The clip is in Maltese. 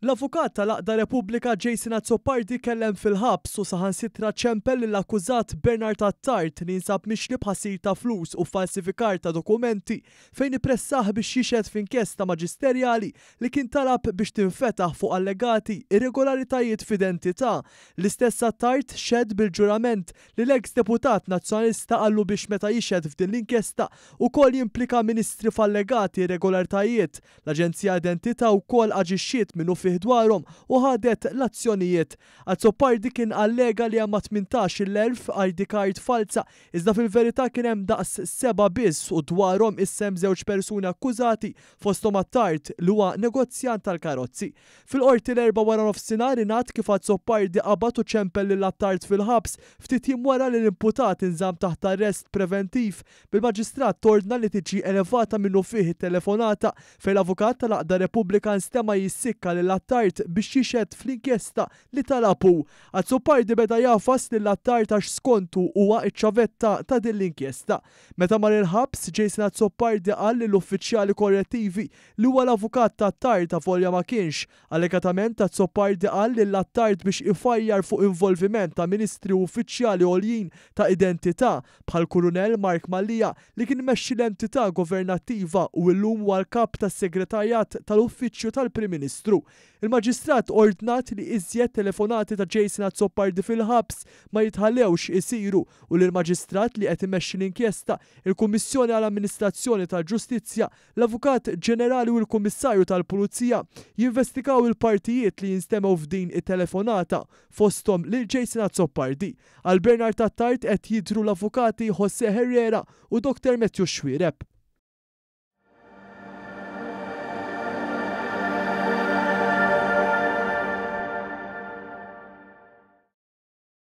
L-avukat tal-Għaqda Repubblika Jason Azzopardi kellem fil-ħabs u saħansitra ċempel lill-akkużat Bernard Attard li jinsab mixli b'ħasil ta' flus u falsifikar ta' dokumenti fejn ippressah biex jixhed f'inkjesta maġisterjali li kien talab biex tinfetaħ fuq allegati irregolaritajiet f'identità. L-istess Attard xehed bil-ġurament li l-eks deputat Nazzjonalista qallu biex meta jixhed f'din l-inkjesta ukoll jimplika ministri f'allegati irregolaritajiet L-Aġenzija Identità wkoll aġixxiet minnufih dwarhom u ħadet l-azzjonijiet. Azzopardi kien allega li hemm ma' tmintax il-elf ID card falza iżda fil-verità kien hemm daqs sebgħa biss u dwarhom issa hemm żewġ persuni akkużati fosthom Attard li huwa negozjant tal-karozzi. Fil-Qorti l-Erbgħa waranofsinhar ingħad kif Azzopardi qabad u ċempel lil Attard fil-ħabs ftit jiem wara li l-imputat inżamm taħt arrest preventiv bil-Maġistrat tordna li tiġi elevata minnufih it-telefonata fejn l-avukat tal-għaqda Repubblika nstema' jissikka lil Attard biex jixhed fl-inkjesta li talab hu. Azzopardi beda jagħfas lil Attard għax skontu huwa ċ-ċavetta ta' din l-inkjesta. Meta mar il-ħabs, Jason Azzopardi qal lill-uffiċjali korrettivi li huwa l-avukat ta' Attard avolja ma kienx Allegatament Azzopardi qal lil Attard biex ifajjar fuq involviment ta' Ministri u uffiċjali għoljin ta' identità bħall-Kurunell Mark Mallia li kien imexxi l-entità governattiva u illum huwa l-Kap tas-Segretarjat tal-Uffiċċju tal-Prim Ministru. Il-Maġistrat ordnat li iżjed telefonati ta' Jason Azzopardi fil-ħabs ma jitħallewx isiru u li l-Maġistrat li qed imexxi l-inkjesta, il-Kummissjoni għal Amministrazzjoni tal-Ġustizzja, L-Avukat Ġenerali u l-Kummissarju tal-Pulizija jinvestigaw il-partijiet li jinstemgħu f'din it-telefonata, fosthom lil Jason Azzopardi. Għal Bernard Attard qed jidhru l-Avukati José Herrera u Dr Matthew Xuereb.